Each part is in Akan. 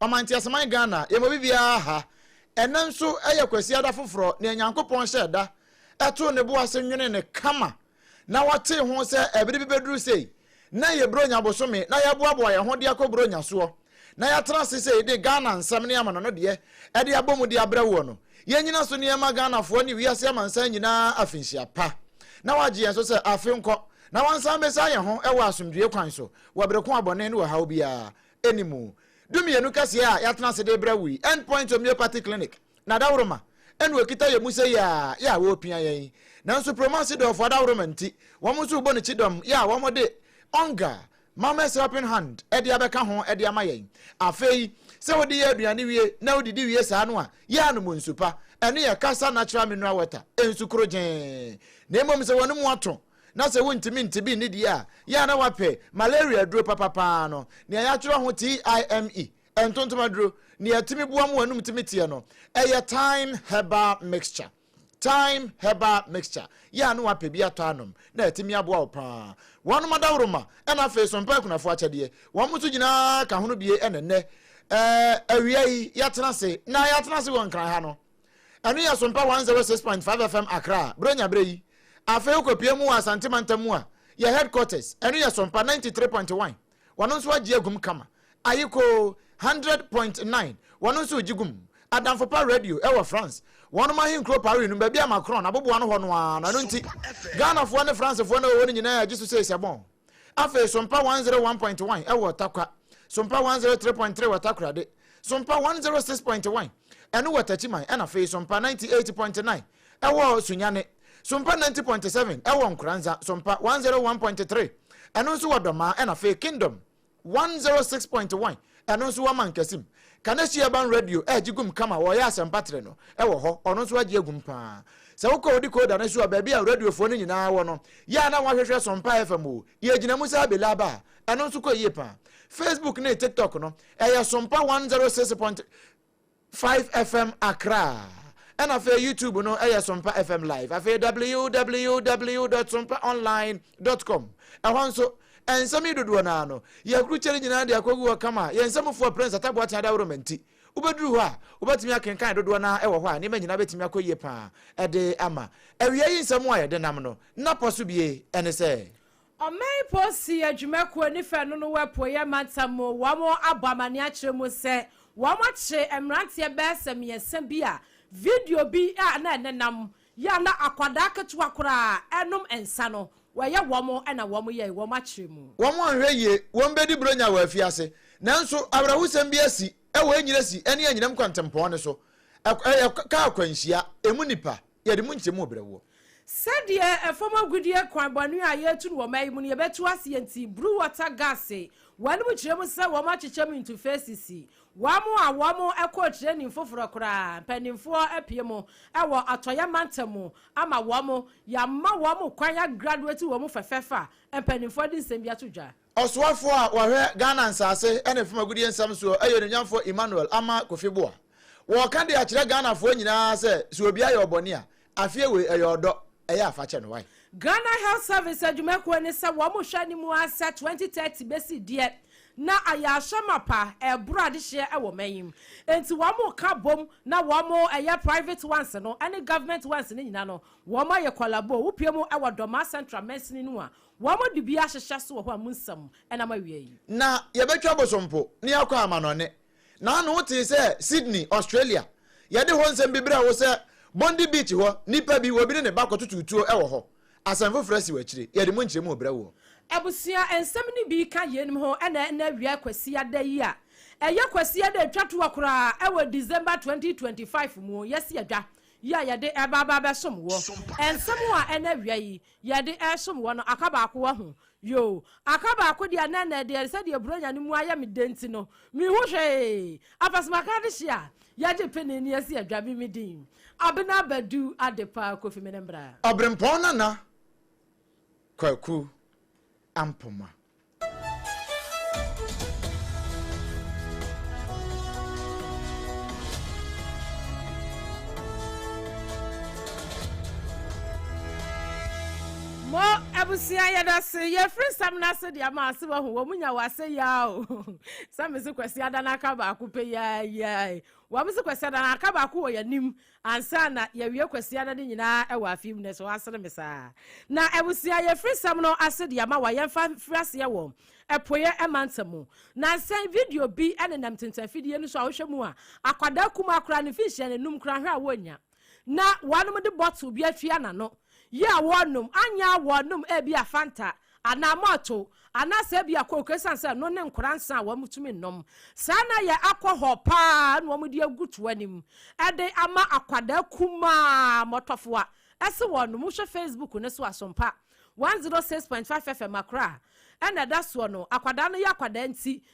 Ɔman Teaseman Ghana, yɛma obi biara ha. Ɛnnɛ nso yɛ Kwasiada foforɔ, nea Nyankopɔn hyɛɛ da, too ne bo ase nwenee no kama, na wɔtee ho sɛ ɛbere bi bɛduru sei, na ɛyɛ Buronya bosome, na yɛaboaboa yɛn ho de akɔ Buronya soɔ, na yɛatena ase sei de Ghana nsɛm ne amanɔno deɛ de abɔ mu de abrɛ woɔ no. Yɛn nnyina so ne yɛmma Ghanafoɔ ne wiase amansan nyinaa afinhyia pa, na wɔagye yɛn so sɛ afe nkɔ, na wɔnsan mmɛsaa yɛn ho wɔ asomdwoeɛ kwan so wɔ bere ko a bɔne ne ɔhaw biara animu dumienu kɛseɛ a yɛatena ase de rebrɛ wo yi, End Point Homeopathy Clinic na Adaworoma na wɔkita yɛn mu sei ara yɛ a wɔrepia yɛn. Nanso Promasi dɔɔfo Adaworoma nti, wɔn nso rebɔ no kyidɔm yɛ a wɔde Onga, Mama's Helping Hand, de abɛka ho de ama yɛn. Afei, sɛ wode yɛ aduane wie na wodidi wie saa no a, yɛ a nom nsu pa. Ɛno yɛ Kasa Natural Mineral Water, nsu koro gyenn. Na mmom sɛ w'anom ato, na sɛ wontumi nte bi nni deɛ a, yɛ a na wɔapɛ malaria aduro papa pa ara no, nea yɛatwerɛ ho TIME, ntontom aduro, nea ɛtumi boa ma w'anum tumi teɛ no, ɛyɛ Thyme Herbal Mixture. Thyme Herbal Mixture, yɛ a na wɔapɛ bi atɔ anom, na ɛtumi aboa wo pa ara. Wɔnom adaworoma, ɛna afei so mpa akunafoɔ akyɛdeɛ. Wɔnom nso nyinaa ka ho no bie ɛne nnɛ, ɛɛ, awia yi, yɛatena ase, na yɛatena ase wɔ Nkran ha no. Ɛno yɛ Sompa 106.5 FM Accra, Buronya berɛ yi. Afei wokɔpue mu wɔ Asante Mantam mu a, yɛ headquarters, ɛno yɛ Sompa 93.1, wɔno nso agye agum kama. Ayiko 100.9, wɔno nso regye gum. Adamfopa Radio wɔ France, wɔnom ahenkuro Paris no, baabi a Macron aboboa no hɔ no ara no, ɛno nti, Ghanafoɔ ne Francefoɔ no a wɔwɔ hɔ no nyinaa agye so sei sɛ bɔn. Afei Sompa 101.1 wɔ Tarkwa, Sompa 103.3 wɔ Takoradi, Sompa 106.1, ɛno wɔ Tachiman ɛna afei Sompa ninety eight point nine ɛwɔ Sunyani, Sompa ninety point seven ɛwɔ Nkoranza, Sompa one hundred one point three ɛno nso wɔ Dɔmaa ɛna afei Kingdom one hundred oh six point one ɛno nso wɔ Mankasim. Kaneshie Urban Radio ɛregye gum kama wɔreyɛ asɛmpa tere no ɛwɔ hɔ, ɔno nso agye agum paa. Sɛ wokɔ wo decoder no so a baabi a radiofoɔ no nyinaa wɔ no yɛ a na woahwehwɛ Sompa FM o, deɛ ɛgyina mu saa Bilaba a ɛno nso kɔ yie paa. Facebook ne TikTok no Ɛyɛ Sompa one zero six point five FM Accra ɛna afei YouTube no ɛyɛ Sompa FM Live afei www dot sompa online dot com ɛhɔ nso nsɛm yi dodoɔ naa no yɛkurukyɛre nyinaa de akɔgu hɔ kama yɛn nsɛmfoɔ Prince Atabu Aten Adaworo ma nti wobɛduru hɔ a wobɛtumi akenkan dodoɔ naa ɛwɔ hɔ a nneɛma nyinaa bɛtumi akɔ yie paa ɛde ama awia yi nsɛm a yɛde nam no na pɔ so bie ɛne sɛ Ɔman Polisi Adwumakuo ne fɛ no no wɔ Apueɛ Mantam mu wɔn abɔ amaneɛ akyerɛ mu sɛ wɔn akye mmeranteɛ bɛyɛ sɛ mmiɛnsa bi a video bi a na ɛnenam yɛ a na akwadaa ketewa koraa ɛnom nsa no wɔyɛ wɔn na wɔn yɛe wɔn akyerɛ mu. Wɔn anhwɛ yie wɔn bɛdi Buronya wɔ afiase nanso awerɛhosɛm bi asi wɔ Enyiresi ne Enyinam kwantempɔn no so, ɛyɛ kaa akwanhyia, ɛmu nnipa. Yɛde mu nkyɛmu rebrɛ woɔ. Sɛdeɛ ɛfam agudeɛ kwan bɔne a yɛretu no wɔ mma yi mu no, yɛbɛto aseɛ nti, bru wɔta gase, w'anom kyerɛ mu sɛ wɔn akyekyɛ mu ntufeesisi, wɔn a wɔn kɔɔ training foforɔ koraa, mpaninfoɔ apue mu wɔ atɔeɛ mantam mu ama wɔn, yɛama wɔn kwan agraduate wɔn fɛfɛɛfɛ a mpaninfoɔ de nsɛm bi ato dwa. Ɔsoafoɔ a ɔhwɛ Ghana Nsaase ne Fam Agudie Nsɛm soɔ yɛ Onuonyamfoɔ Emmanuel Amah Kofi Boah. Wɔɔka de akyerɛ Ghanafoɔ nyinaa sɛ sɛ obi ayɛ ɔbɔne a, afeɛ wei ɛyɛ ɔdɔ, ɛyɛ a fa kyɛ no wai. Ghana Health Service adwumakuo ne sɛ wɔn hwɛ ne mu ara sɛ 2030 bɛsi deɛ na ayɛ ahyɛ mapa ɛreboro adehyeɛ wɔ man yi mu. Enti wɔn ka bom na wɔn ɛyɛ private ones no ne government ones no nyina no wɔn ayɛ kwalaboo. Wo pue mu wɔ Dormaa Central mansini no mu a Wɔde bi ahyehyɛ so wɔ hɔ a mu nsɛm na mawie yi. Na yɛbɛtwa bosompo na yɛakɔ amanɔne. Na ano wotee sɛ Sydney, Australia. Yɛde hɔ nsɛm bi brɛɛ wo sɛ Bondi Beach hɔ nipa bi, obi ne ne ba kɔtotow tuo wɔ hɔ. Asɛm foforɔ asi wɔ akyire. Yɛde mu nkyerɛmu rebrɛ woɔ. Abusua nsɛm no bi ka yeinom ho na ɛnnɛ awia Kwasiada yi a ɛyɛ Kwasiada a ɛtwa toɔ koraa wɔ December 2025 mu, yɛasi adwa yi a yɛde ɛreba aba abɛsom woɔ nsɛm a ɛnnɛ awia yi yɛde resom wɔ no aka baako wɔ ho. Yoo, aka baako deɛ na ɛnɛ deɛ sɛdeɛ Buronya no mu ayɛ me dɛ nti no, menhu hwee. Apasomakaa no hye a, yɛgye pene na yɛsi adwa me me din, Abena Badu Adepa Kofi Menembra. Ɔberempɔn Nana Kwaku Ampoma. Mo abusua yɛdase yɛfiri nsɛm no ase de ama ase wahu wɔn nya wɔ ase yaa o sɛ me se kwasi ada no aka baako pɛ yaa yaa wɔn se kwasi ada no aka baako wɔ yɛn anim Ansa na yɛawie kwasida no de nyinaa wɔ afe mu no, so asene me saa? Na abusua a yɛfiri nsɛm no ase de ama wo a yɛmfa mfiri aseɛ wɔ Apueeɛ mantam mu. Nansa yi video bi nenam tintanfidie no so a wohwɛ mu a, akwadaa kumaa koraa, ne mfinhyia no nnum koraa, hwɛ a wɔnnya. Na wɔnom de bottle bi atua n'ano, yi a wɔnom, anyɛ a wɔnom ebia Fanta, anaa mɔɔto, anaasɛ ebia coke esiane sɛ ɛno ne nkwadaa nsa a wɔtumi nnom. Saa na ɛyɛ alcohol paa na wɔde agu to anim de ama akwadaa kumaa mmɔtɔfowa. Ɛse wɔn no, mohwɛ Facebook no so Asompa 106.5 FM Accra na ɛda soɔ no, akwadaa no yɛ akwadaa nti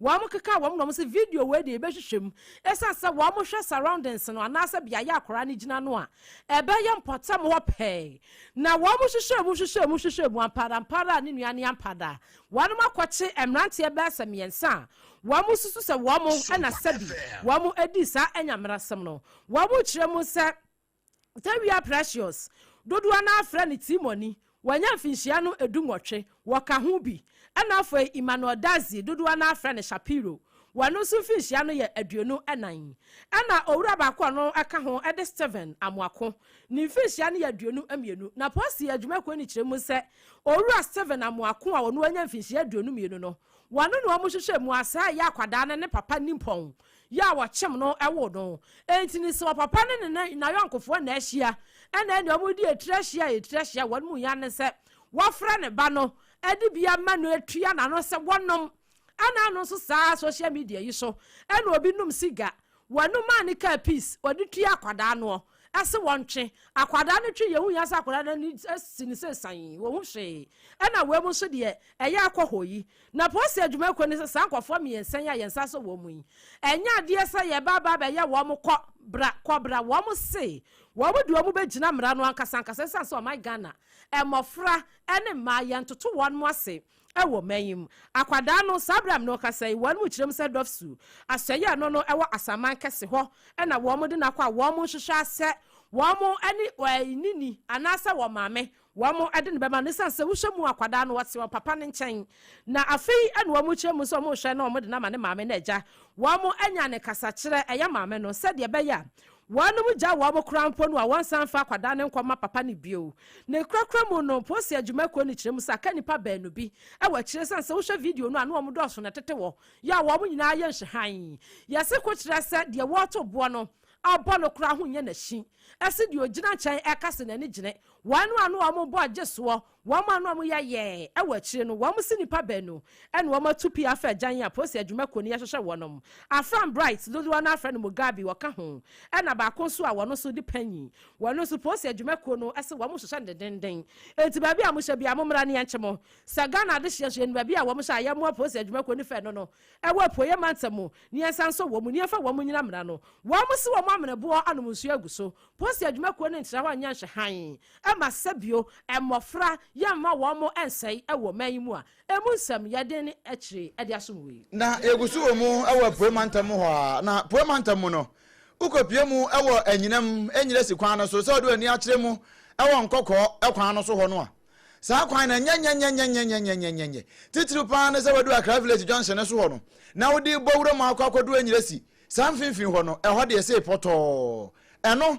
Wɔkekaa wɔn na wɔse video wei deɛ yɛbɛhwehwɛ mu ɛsiane sɛ wɔhwɛ surroundings no anaasɛ beaeɛ a akwadaa no gyina no a, ɛbɛyɛ mpɔtam hɔ pɛɛ. Na wɔhwehwɛɛ mu hwehwɛɛ mu hwehwɛɛ mu ampa ara ampa ara a ne nua ne ampa da. Wɔakɔkye mmeranteɛ bɛyɛ sɛ mmiɛnsa a wɔsusu sɛ wɔn na sɛbi wɔdii saa anyammerɛsɛm no. Wɔkyerɛ mu sɛ. Tawia Precious, dodoɔ no ara frɛ no Tirimɔni, wanya mfinhyia no du nwɔtwe, wɔka ho bi, ɛna afei Emmanuel Dadzie, dodoɔ no ara frɛ no Shapiro, wɔno nso mfinhyia no yɛ aduonu nan, ɛna owura baako a ɔno ka ho de Stephen Amoako, ne mfinhyia no yɛ aduonu mmienu. Na Posi adwumakuo no kyerɛ mu sɛ owura Stephen Amoako a ɔno anya mfinhyia aduonu mmienu no, wɔno na wɔhwehwɛ mu a saa ɛyɛ akwadaa no ne papa nimpɔn yɛ a wɔkyem no woo no. Enti no sɛ ɔpapa no ne n'ayɔnkofoɔ na ahyia, ɛna ɛne wɔn di etire ahyia a etire ahyia a wɔn mu yan ne sɛ wɔfrɛ ne ba no de bi ama no tua n'ano sɛ wɔnom. Ɛna ano nso saa social media yi so ɛna obi nom siga, wɔnom a ne kaa peace wɔde tua akwadaa noɔ. se wɔntwe akwadaa no twe yɛn ho hia sɛ akwadaa no ani si no sɛ sann wɔhu hwee ɛna wei mu nso deɛ ɛyɛ akɔ hɔ yi na polisi adwuma kɔ ni sɛ saa nkɔfoɔ mmiɛnsa yi a yɛn nsa sɔ wɔn mu yi ɛnyɛ adeɛ sɛ yɛba aba bɛyɛ wɔn kɔ bra kɔ bra wɔn se wɔn de wɔn bɛgyina mmara no ankasa ankasa ɛsan sɛ ɔman Ghana mmɔfra ne mmaa yɛn toto wɔn ase Wɔ man yi mu, akwadaa no, saa bere a me ne wo kasa yi, wɔn mu kyerɛ mu sɛ Dɔfsu, Asɔe a ɛno no wɔ asaman kɛse hɔ na wɔde no akɔ a wɔnhwehwɛ ara sɛ wɔn ne ne ni anaasɛ wɔn maame wɔde no bɛma no esiane sɛ wohwɛ mu akwadaa no ɔte wɔn papa no nkyɛn na afei na wɔn kyerɛ mu sɛ wɔhwɛ na wɔde no ama ne maame na agya wɔn anya ne kasakyerɛ ɛyɛ maame no sɛdeɛ ɛbɛyɛ a Wɔnom gya wɔn kora mpo no a wɔnsan mfa akwadaa no nkɔma papa no bio. Ne korakora mu no, Mposi Adwuma Kuo no kyerɛ mu sɛ aka nnipa baanu bi wɔ akyire esiane sɛ wohwɛ video no a na wɔn dɔɔso na ɛtete hɔ yɛ a wɔn nyinaa yɛ nhyehan. Yɛse ko kyerɛ sɛ deɛ wɔreto boɔ no abɔ no koraa ho nyɛ n'akyi se deɛ ogyina nkyɛn ɛka se n'ani gyene wɔn a na wɔn bɔ gye soɔ Wɔn a na wɔyɛ yɛɛ wɔ akyire no, wɔn si nnipa baanu na wɔn atu pii afa agyan a Polisi adwuma kuo no yɛ hwehwɛ wɔn. Afram Bright, dodoɔ no ara frɛ no Mugabi, ɔka ho, ɛna baako nso a wɔn nso de panyin. Wɔn nso Polisi adwuma kuo no se wɔn hwehwɛ no dendenden. Enti baabi a mo hyɛ biara mo mmra na yɛnkye mo. Sɛ Ghana adehyeɛ nso yɛnim baabi a wɔn hyɛ a yɛmmoa Polisi adwuma kuo no fɛ no no ɛwɔ apueɛ mantam mu na yɛnsa nsɔ wɔn mu na yɛmfa wɔn nyina mmra no. Wɔn se wɔn amene boɔ anom nsuo agu so Post adwuma kuo no ntra hɔ nyɛ nhwɛ hann ma sɛbio mmɔfra yɛ mma wɔn nsɛe wɔ man yi mu a ɛmu nsɛm yɛ den akyire de asom wei. Na yɛgu so wɔ mu wɔ Apueɛ mantam mu hɔ ara. Na Apueɛ mantam mu no, wokɔpue mu wɔ anyinam, Enyiresi kwan no so, sɛ wode w'ani akyerɛ mu wɔ Nkɔkɔɔ kwan no so hɔ no a, saa kwan no ɛnyɛ nyɛnyɛnyɛnyɛnyɛnyɛnyɛnyɛnyɛ. Titiriw pa ara ne sɛ wadu Accra Village Junction no so hɔ no, na wode bɔ wuram akɔ akɔduru Enyiresi Saa mfimfini hɔ no, ɛhɔ de ɛsee pɔtɔɔ. Ɛno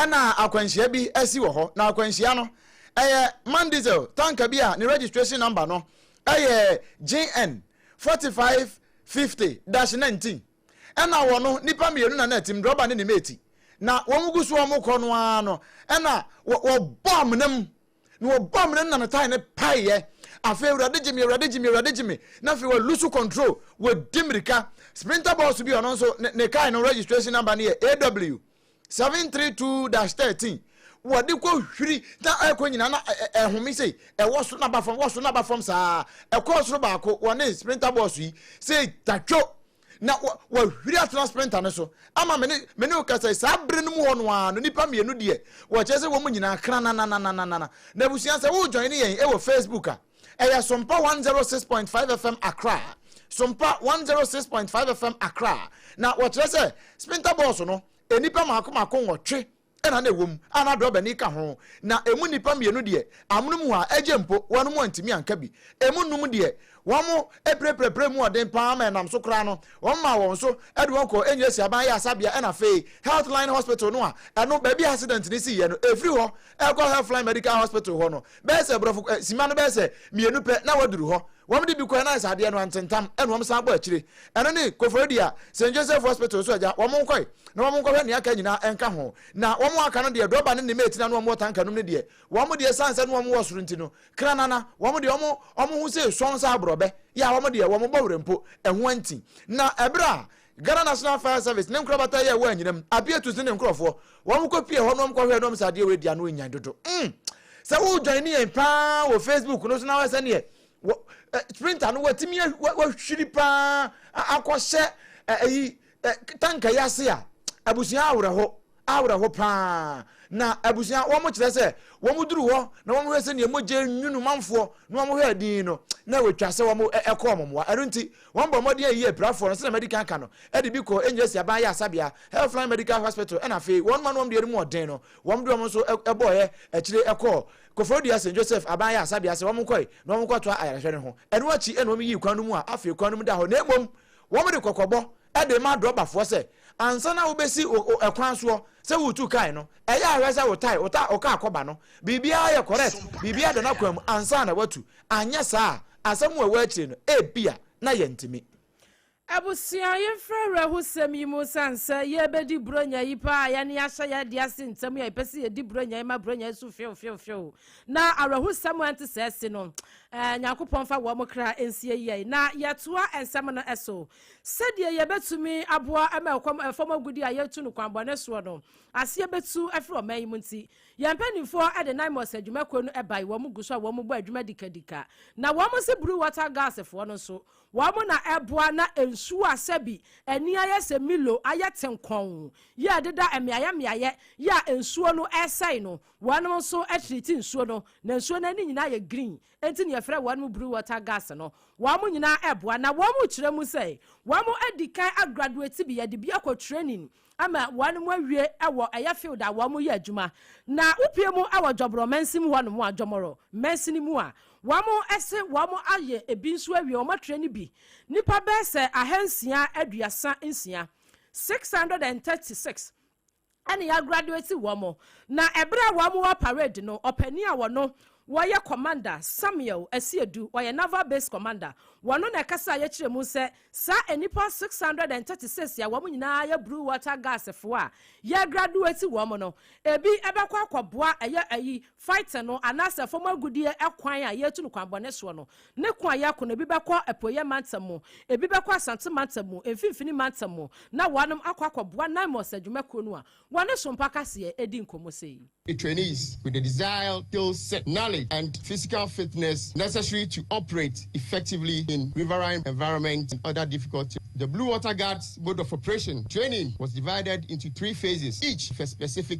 na akwanhyia bi asi wɔ hɔ, na akwanhyia no, ɛyɛ man diesel tanka bi a ne registration number no yɛ JN 4550-19. Ɛna wɔ no, nnipa mmienu na na ɛtem, drɔba ne ne mate. Na wɔn gu so a wɔrekɔ no ara no, ɛna wɔbɔ amena mu na wɔbɔ amena no na ne tae no paeɛ. Afei Awurade gye me, Awurade gye me, Awurade gye me. Na afei wa lose control, wadi mmirika. Sprinter bɔɔso bi ɔno nso ne, ne car no registration number no yɛ AW 732-13. Wɔde kɔ hwiri na ɛkɔ nyinaa na ɛ- ɛ- ɛhome sei, ɛwɔ soro na ba fam, wɔ soro na ba fam saa. Ɛkɔɔ soro baako, wɔne sprinter bɔɔso yi, sei tatwo. na wahwiri atena sprinter no so ama me ne me ne wo kasa yi saa bere no mu hɔ no ara no nipa mmienu deɛ wɔkyerɛ sɛ wɔn nyinaa kranananananana na abusua sɛ wo join yɛn ɛwɔ facebook a ɛyɛ sompa 106.5 fm akra sompa 106.5 fm akra na wɔkyerɛ sɛ sprinter bɔɔso no nnipa mako mako nwɔtwe na na ɛwom a na drɔbani ka ho, na emu nnipa mmienu deɛ, amonom hɔ ara, agye mpo, wɔnom antumi anka bi. Emu nnum deɛ, wɔpirapirapiraa mu ɔden pa ara ma ɛnam so koraa no, wɔmaa wɔn so de wɔn kɔɔ Enyiresi Aban Ayaresabea ɛnna afei Healthline Hospital no a ɛno baabi a accident no siiɛ no, ɛfiri hɔ kɔ Healthline Medical Hospital hɔ no, Bɛyɛ sɛ brɔfo eh, simma no bɛyɛ sɛ mmienu pɛ na wɔaduru hɔ. Wɔde bi kɔe na ayɛ sɛ adeɛ no antentam, ɛna wɔn san bɔ akyire. Ɛno ne Koforidua a St. Joseph Hospital nso agya wɔn nkɔe na wɔn nkɔhwɛ nea aka nyinaa nka ho. Na wɔn a aka no deɛ drɔba ne ne mate na na wɔn wɔ tanka nom no deɛ, wɔn deɛ ɛsiane sɛ na wɔn wɔ soro nti no, kranana, wɔn deɛ wɔn wɔn ho sei sɔnn sɛ aborɔbɛ. Yah wɔn deɛ wɔn bɔ werɛ mpo, ɛho anti. Na ɛberɛ a Ghana National Fire Service ne nkorabata yɛ wɔ anyinam, Abiatus ne ne nkorɔfoɔ, wɔn kɔ pie hɔ na wɔn kɔ hwɛɛ na wɔn sɛ adeɛ wei deɛ ano nyan dodo mm sɛ wo join ne yɛn paa wɔ Facebook no so na wɔ sɛ neɛ wɔ eh, sprinter no wɔatumi wɔahwiri paa akɔhyɛ eh, ɛyi eh, tanka yi ase a abusua awerɛho awerɛho paa. Na abusua, wɔkyerɛ sɛ wɔduruu hɔ na wɔhwɛɛ sɛnea mogya anwunu manfoɔ na wɔhwɛɛ dinn no, na wɔatwa sɛ wɔkɔ wɔn mmoa. Ɛno nti, wɔbɔɔ mmɔden a ɛyɛ apirafoɔ no, sɛnea madi kan aka no, de bi kɔɔ Engeresi Aban Ayaresabea, Healthline Medical Hospital, ɛnna afei wɔn a na wɔn deɛ no mu yɛ den no, wɔde wɔn nso bɔeɛ akyire kɔɔ Koforidua St. Joseph Aban Ayaresabea sɛ wɔnkɔe na wɔnkɔtoa ayarehwɛ no ho. Ɛno akyi na wɔyii kwan no mu a afei kwan no mu da hɔ, na mmom wɔde kɔkɔbɔ de ma adɔbafoɔ sɛ Ansa na wobesi wo kwan soɔ sɛ woretu kae no, ɛyɛ a hwɛ sɛ wo tae, wo kaa kɔba no, biribiara yɛ correct, biribiara da n'akwan mu ansa na woatu. Anyɛ saa a, asɛm a ɛwɔ akyire no, ebia na yɛntumi. Abusua, yɛmfiri awerɛhosɛm yi mu ɛsiane sɛ yɛrebɛdi Buronya yi paa a yɛne ahyɛ yɛn adeɛ ase ntɛm yi a yɛpɛ sɛ yɛdi Buronya yi ma Buronya yi so hweofweofweo na awerɛhosɛm a ɛnte saa si no. Nyankopɔn mfa wɔn kra nsie yɛn na yɛtoa nsɛm no so. Sɛdeɛ yɛbɛtumi aboa ma ɛkɔm a ɛfam agudeɛ a yɛretu no kwan bɔne soɔ no aseɛ bɛtu afiri ɔman yi mu nti, yɛn mpanimfoɔ de Naimos adwumakuo no bae, wɔn gu so a wɔn bɔ adwuma dikadika, na wɔn se bruu wɔta gas foɔ no nso, wɔn na ɛboa na nsuo a sɛbi ani ayɛ sɛ Milo ayɛ ten kɔnn yi a ɛdeda mmeaeɛ mmeaeɛ yi a nsuo no resɛe no, wɔnom nso triti nsuo no, na nsuo no ani nyinaa yɛ green Enti nea ɛfrɛ wɔn Blue Water Gas no, wɔn nyinaa reboa na wɔkyerɛ mu sɛ wɔadi kan agraduate bi, wɔde bi akɔ training ama wɔawie wɔ ɛyɛ field a wɔyɛ adwuma. Na wopue mu wɔ Jɔbrɔ mansin mu hɔnom a, Jɔmɔrɔ mansin mu a, wɔse wɔayɛ ebi nso awie, wɔatraini bi nnipa bɛyɛ sɛ ahansia aduasa nsia, 636, ɛne yɛagraduati wɔn. Na ɛberɛ a wɔn wɔ parade no, ɔpanin a wɔno wɔyɛ commander, Samuel Asiedu, ɔyɛ Naval Base Commander, wɔno na ɛkasaa yɛkyerɛ mu sɛ saa nnipa 636 a wɔn nyinaa yɛ Blue Water Gas foɔ a yɛagraduati wɔn no, ɛbi ɛbɛkɔ akɔboa ɛyɛ ayi Fighting no, anaasɛ fam agodie ɛkwan a yɛretu no kwanbɔne soɔ no, ne ko a yɛreko no, ebi bɛkɔ Apueeɛ Mantam mu, ebi bɛkɔ Asante Mantam mu, Mfimfini Mantam mu, na wɔanom akɔ akɔboa Naimos adwumakuo no a wɔne Sompa Kaseɛ redi nkɔmmɔ sei. Trainees with the desired skill set, knowledge and physical fitness necessary to operate effectively in riverine environments and other difficult terrain. The Blue Water Guards Mode of Operation training was divided into three phases, each with a specific.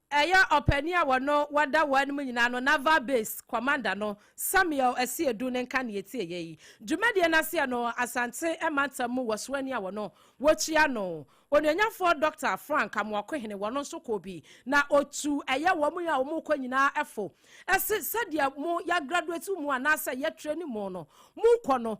Ɛyɛ ɔpanin a wɔno wɔda wɔn anim nyinaa no, Naval Base Commander no, Samuel Asiedu ne nka na yɛtieɛ yi. Dwumadie no aseɛ no, Asante mantam mu wɔsoani a wɔno wɔkyia no, Onuonyamfoɔ Dɔkta Frank Amoakohene, wɔno nso kɔɔ bi, na ɔtu ɛyɛ wɔn a wɔrekɔ nyinaa fo, se sɛdeɛ mo yɛagraduate mo anaasɛ yɛtrɛni mo no, morekɔ no,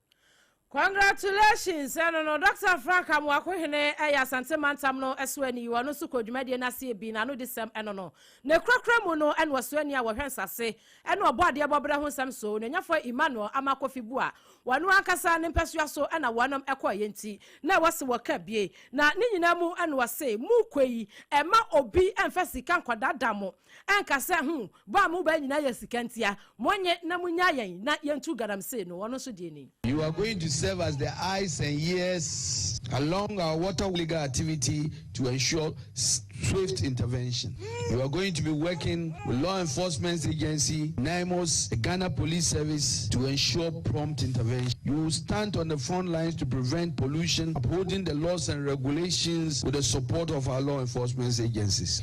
Congratulations ɛno no Doctor Frank Amoako Hene ɛyɛ Asante Mantam no ɛsoani ɔno nso kɔɔ dwumadie no aseɛ bi n'ano di sɛm ɛno no n'akurakura mu no ɛna ɔsoani a wɔhwɛ nsase ɛna ɔbɔ adeɛ bɔ berɛ ho nsɛm so Onuanyafoɔ Emmanuel Ama Kofi Bua ɔno ankasa ne mpɛsoa so ɛna wɔnom ɛkɔeɛ nti na ɛwɔ se wɔka bie na ne nyinaa mu ɛna ɔse mokɔ yi ɛmma obi ɛmfa sika nkɔdaadaa mo Ɛnka sɛ, Ho, bɔ a mobɔ nyinaa yɛ sika ntia, monnye na munnyaa yɛn na yentu galamsey no, ɔno nso deɛ ni. You are going to serve as the eyes and ears along our water legal activity to ensure swift intervention. You are going to be working with law enforcement agency, NIMOS, the Ghana Police Service to ensure prompt intervention. You will stand on the front lines to prevent pollution, upholding the laws and regulations with the support of our law enforcement agencies.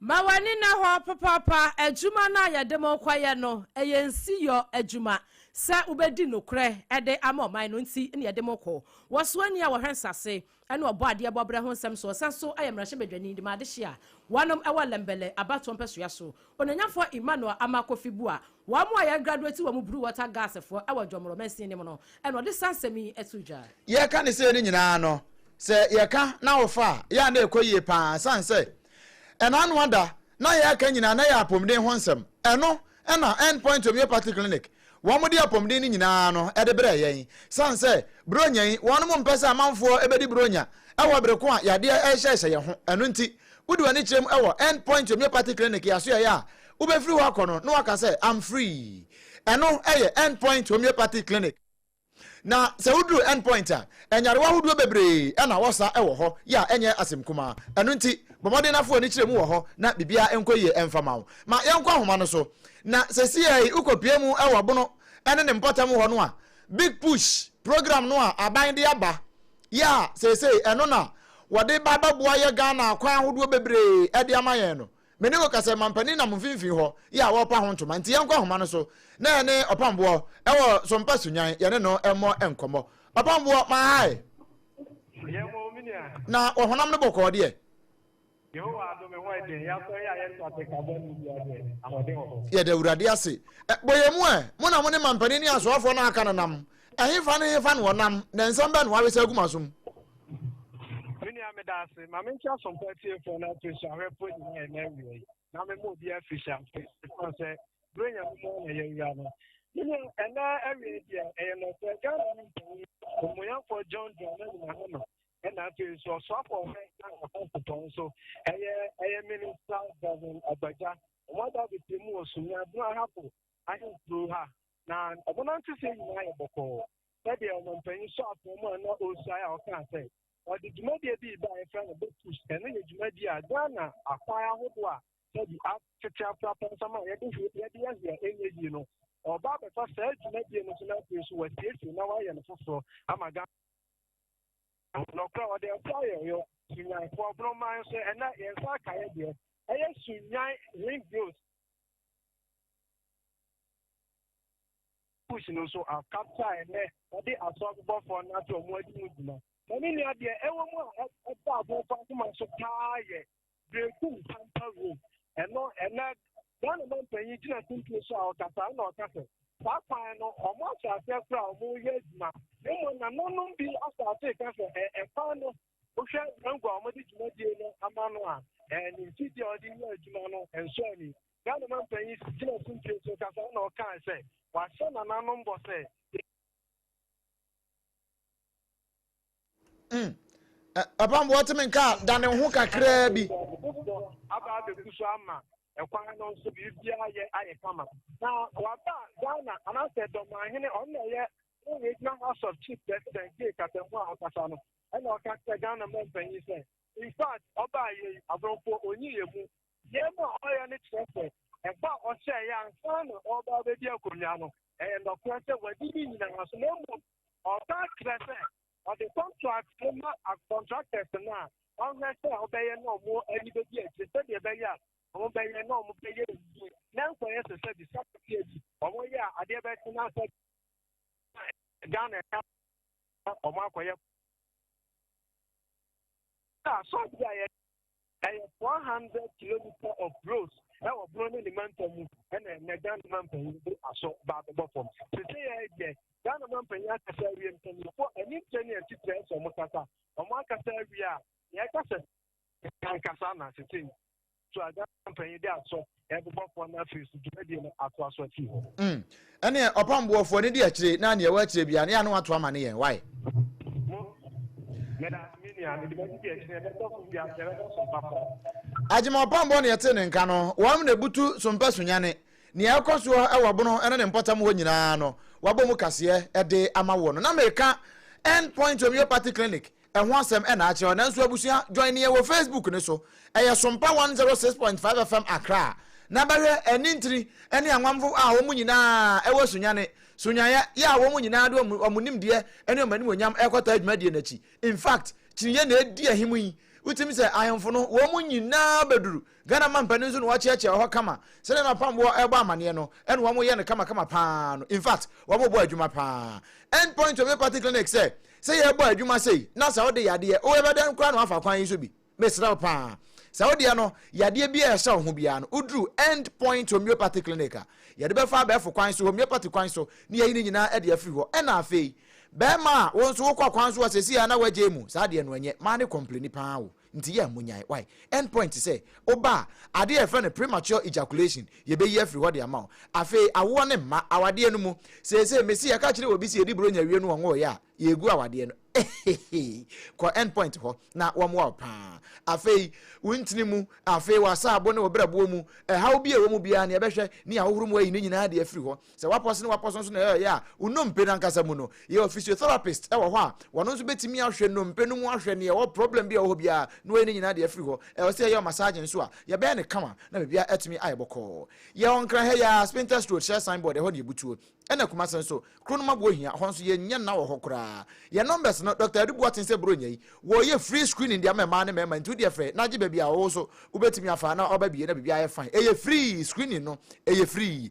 Ma w'ani nna hɔ papaapa. Adwuma no a yɛde mo rekɔyɛ no, ɛyɛ nsiyɔ adwuma. Sɛ wobɛdi nokorɛ de ama ɔman no nti na yɛde mo rekɔ. Wɔsoani a wɔhwɛ nsase ne Ɔbɔadeɛ bɔberɛ ho nsɛm so, ɔsan nso yɛ mmarahyɛbadwani de ma adehye a wɔnom wɔ Lembelle abatoɔ mpɛsoa so, Onanyafɔɔ Emmanuel Amarh Kofi Buah. Wɔn a yɛ graduate wɔ mu Blue Water Gas foɔ wɔ Dwɔmorɔ mansin no mu no na ɔde saa nsɛm yi to dwa. Yɛreka ne sei no nyinaa no, sɛ yɛka na wofa a, yɛ a na ɛkɔ yie pa ara ɛsiane sɛ ɛna ano ada na yɛreka nyinaa na ɛyɛ apomden ho nsɛm. Ɛno na End Point Homeopathy Clinic, wɔde apomden no nyinaa no de brɛɛ yɛn ɛsiane sɛ Buronya yi, wɔnom mpɛ sɛ amanfoɔ bɛdi Buronya wɔ bere ko a yadeɛ rehyɛhyɛ yɛn ho. Ɛno nti, wode w'ani kyerɛ mu wɔ End Point Homeopathy Clinic, yɛasoɛeɛ a wobɛfiri hɔ akɔ no na waka sɛ I'm free. Ɛno yɛ End Point Homeopathic Clinic. Na sɛ woduru End Point a, nyarewa ahodoɔ bebree na wɔsa wɔ hɔ, yea, ɛnyɛ asɛm kumaa. Ɛno nti, bɔ mmɔden na fa w'ani kyerɛ mu wɔ hɔ na biribiara nkɔ yie mfa ma wo. Ma yɛnkɔ ahoma no so. Na seesei yi wokɔpue mu wɔ Bono ne ne mpɔtam hɔ no a, Big Push program no a aban de aba, yea, seesei ɛno na wɔde ba bɛboa yɛ Ghana akwan ahodoɔ bebree de ama yɛn no, Me ne wo kasa mampanin nam mfimfini hɔ yɛ a wɔrepa ho ntoma nti yɛnkɔ ahoma no so na yɛne Ɔpamboɔ wɔ Sompa Sunyan yɛne no mmɔ nkɔmmɔ. Ɔpamboɔ ma hi. Yɛn wɔ o me nua. Na wɔ honam no bɔkɔɔ deɛ? Yehowa adom ɛho yɛ den. Yɛasɔre a yɛnto asekasɛm no biara deɛ, ahoɔden wɔ hɔ. Yɛda Awurade ase. Bɔ yɛn mu ɛ. Mo na mo ne mampanin ne asoafoɔ no a aka no nam Ɛhefa ne hefa na ɔnam, na nsɛm bɛn na wawesa agu m'aso mu? Me nua meda ase, ma mente asompa atiefoɔ no afiri so ahwɛfoɔ nyinaa ɛna awia yi, na mema obi afiri hyɛ ase, ɛfiri sɛ berɛ nya mu mu na yɛawura no. Me nua, ɛna awia deɛ ɛyɛ nɔfɛ Ghana no mpanin ɔmmoyamfoɔ John Dramani Mahama ɛna afei so ɔsoafoɔ ɔhwɛ na ɛkɔ sopɔn so ɛyɛ ɛyɛ minista Bevan Agbagya wɔn ada bebree mu wɔ Sunyani Ahapo ahemfuro ha Na ɔmo nanteseɛ nyinaa yɛ bɔkɔɔ. Sɛdeɛ ɔmampanyin sɔ afɔm a na ɔresuae a ɔkaa sɛ ɔde dwumadie bi ba a yɛfrɛ no Botus. Ɛno yɛ dwumadie a Ghana akwan ahodoɔ a sɛbi atete afra pansam a yɛde yɛde yɛ hwɛ ɛnyɛ yie no. Ɔba abɛfa saa dwumadie no so na afei nso wasiesie na wayɛ no foforɔ ama Ghana. Nɔkorɛ ɔde ɛfo ayɛ yɔ sunyanfoɔ borɔman nso ɛnɛ yɛn nsa aka yɛ deɛ ɛyɛ sunyan ring growth Kush no nso a capture a ɛnɛ wɔde asɔrebɔfoɔ no ate wɔn adi mu gyina. Na ne nua deɛ ɛwɔ mu a ɛda abɔnfo akoma so paa yɛ Berekum Pampa Room. Ɛno ɛnɛ Ghana mampanyin gyina kuntun so a ɔkasa na ɔka sɛ saa kwan no wɔn ahyɛ aseɛ koraa a wɔyɛ adwuma. Mmom nananom bi asase ka sɛ ɛkwan no Wohwɛ Mango a wɔde dwumadie no ama no a, ɛɛ ne mfidie a ɔde yɛ adwuma no nsɔ ani. Ghana mampanyin si gyina sumpie so kasa na ɔkaa sɛ wahyɛ nananom bɔ sɛ. Mm. Papa mbɔ ɔte me nka da ne ho kakraa bi. Aba abɛgu so ama ɛkwan no nso biribiara yɛ ayɛ kama. Na waba Ghana anaasɛ dɔmahene ɔno na ɛyɛ regional house of chief president gye kasamu a ɔkasa no ɛna ɔka kyerɛ ghana ma mpanyin sɛ in fact ɔbaa yɛ yi aborɔfo onyi yɛ mu yɛn mu a ɔyɛ no kyerɛ sɛ ɛbɔ a ɔhyɛ yɛ ansa na ɔba abɛdi akonnwa no ɛyɛ nnɔkorɛ sɛ wadi ne nyinaa so na mmom ɔba kyerɛ sɛ ɔde contract no ma contractors no a ɔhwɛ sɛ ɔbɛyɛ na ɔmo ani bɛdi akyi sɛdeɛ ɛbɛyɛ a ɔmo bɛyɛ na ɔmo bɛyɛ yie na nkɔyɛ sɛ sɛ bi sɛ bi ɔmo yɛ a adeɛ bɛtena sɛ ghana ɛka na wɔn akɔyɛ na asɔre bi a yɛ ɛyɛ four hundred kilometer of roads ɛwɔ bono ne ne manta mu ɛna ɛnɛ ghana ma mpanyin de asɔ ba abɛbɔ fam tete yɛ deɛ ghana ma mpanyin akasa awie mpanyinfoɔ ɛne nkyɛn ne ɛtitire ɛsɛ wɔn kasa wɔn akasa awie a yɛkasa nkasa na tete so a ghana mpanyin de asɔ ɛbobɔfoɔ no afiri so dwumadie no atoa so afi hɔ mm. ɛneɛ ɔpam boɔfoɔ no di akyire na neɛ ɛwɔ akyire bia ne yɛ ano ato ama ne yɛn wae agyema ɔpam boɔ ne yɛte ne nka no wɔm na ɛbutu so mpɛ so nyane neɛ ɛkɔ soɔ ɛwɔ bono ɛne ne mpɔtam hɔ nyinaa no wabɔ mu kaseɛ ɛde ama wɔ no na meka end point homeopathy clinic Ɛho asɛm na akyerɛw nanso abusua join yɛn wɔ Facebook no so. Ɛyɛ Sompa one zero six point five FM Accra. Na bɛhwɛ anintiri ne anwamfo a wɔn nyinaa wɔ sunyane, sunyayɛ, yɛ a wɔn nyinaa de wɔn nimdeɛ ne wɔn animuonyam rekɔtaa dwumadie no akyi. In fact, kyiniiɛ na ɛdi ahim yi. Wotumi sɛ ahemfo no wɔn nyinaa bɛduru Ghana mampanin nso na wɔakyeakyea wɔ hɔ kama. Sɛdeɛ na Pamboɔ rebɔ amaneɛ no na wɔn yɛ no kamakama pa ara no. Infact, wɔn rebɔ adwuma pa ara. End point of Epathy Clinic sɛ, sɛ yɛrebɔ adwuma sei na sɛ wode yadeɛ, wo yɛbɛdɛn koraa na woafa kwan yi so bi? Mesrɛ wo pa ara. Sɛ wo deɛ no, yadeɛ biara a ɛhyɛ wo ho biara no, woduru End point Homeopathy Clinic a, yɛde bɛfa abɛɛfo kwan so, homeopathy kwan so, na yɛayi ne nyinaa de afiri hɔ. Ɛna afei, bɛɛma a wo nso wokɔ kwan so a seesei ara na woagyae mu, saa deɛ no ɛnyɛ, m'ane kɔmpleni pa ara wo. Nti yɛ a monyae wai. End point te sɛ woba a ade a yɛfrɛ no premature ejaculation yɛbɛyi afiri hɔ de ama wo. Afei awoɔ ne mma awadeɛ no mu. Seesei mese yɛka kyerɛ obi sɛ yɛdi bronya wie no ɔnwoeɛ a, yɛregu awadeɛ no. Ehehee. Kɔ end point hɔ na wɔmmoa wo pa ara. Afei wo ntini mu, afei w'asaabo ne wo berɛboɔ mu, ɛhaw bi a ɛwɔ mu biara no yɛbɛhwɛ ne ahohoro mu ayi ne nyinaa de afiri hɔ. Sɛ woapɔse na woapɔse nso na ɛyɛ a wo nnompe no ankasa mu no, yɛwɔ physiotherapist wɔ hɔ a wɔn nso bɛtumi ahwɛ nnompe no mu ahwɛ nea ɛwɔ problem bi a ɛwɔ hɔ biara na wɔayi ne nyinaa de afiri hɔ. Ɛwɔ sɛ yɛyɛ wo massage nso a, yɛbɛyɛ no kama na biribiara atumi ayɛ bɔkɔɔ. Yɛwɔ Nkran ha yi ara, Spintex Road, hyɛ sign board, ɛhɔ na yɛbutuo. Ɛna Kumase nso, Kronoma Buohia, ɛhɔ nso yɛnyɛ nna wɔ hɔ koraa. Yɛn numbers no, Doctor Adu Boateng sɛ Buronya yi, wɔyɛ free screening de ama mmaa ne mmarima nti wo deɛ frɛ na agye baabi a ɔwɔ so wobɛtumi afa na waba bie na biribiara ayɛ fine. Ɛyɛ free, screening no ɛyɛ free.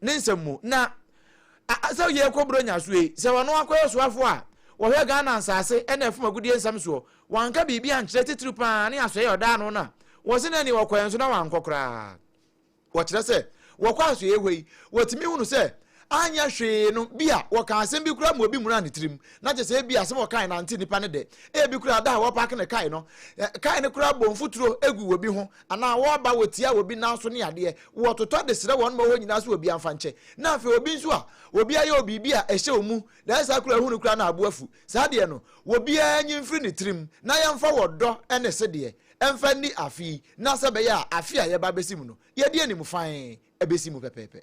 Ne nsɛm mu, na Asau yɛ kɔ Buronya so yi, sɛ ɔno akɔyɛ ɔsoafoɔ a ɔhwɛ Ghana nsaase ne ɛfam agudeɛ nsɛm soɔ. Wanka biribi ankyerɛ titiriw pa ara ne asoɛeɛ a ɔdaa ano no a wɔse na ɛne ɔkɔeɛ nso na wankɔ koraa. Wɔkyerɛ sɛ wɔkɔ asoɛeɛ hɔ yi, wɔtumi hunu sɛ anyɛ hwee no, bi a wɔkaa asɛm bi koraa ma obi muraa ne tirim, na kyerɛ sɛ ebia asɛm a ɔkae no ante nnipa no dɛ. Ebi koraa da a wɔpaake no kae no, kae no koraa bɔ mfuturo gu wɔ bi ho anaa wɔba wɔtia obi nan so ne adeɛ, wɔtotɔ de srɛ wɔn ma hɔ nyinaa so obi amfa nkyɛ, na afei obi nso a obi ayɛ wo biribi a ɛhyɛ wo mu na ɛyɛ saa koro a ɛhunu koraa na abo afu, saa deɛ no obiara nyi mfiri ne tirim na yɛmfa wɔ dɔ ne sedeɛ mfa nni afe yi na sɛ ɛbɛyɛ a afe a yɛba abɛsi mu no yɛde animfann bɛsi mu pɛpɛɛpɛ.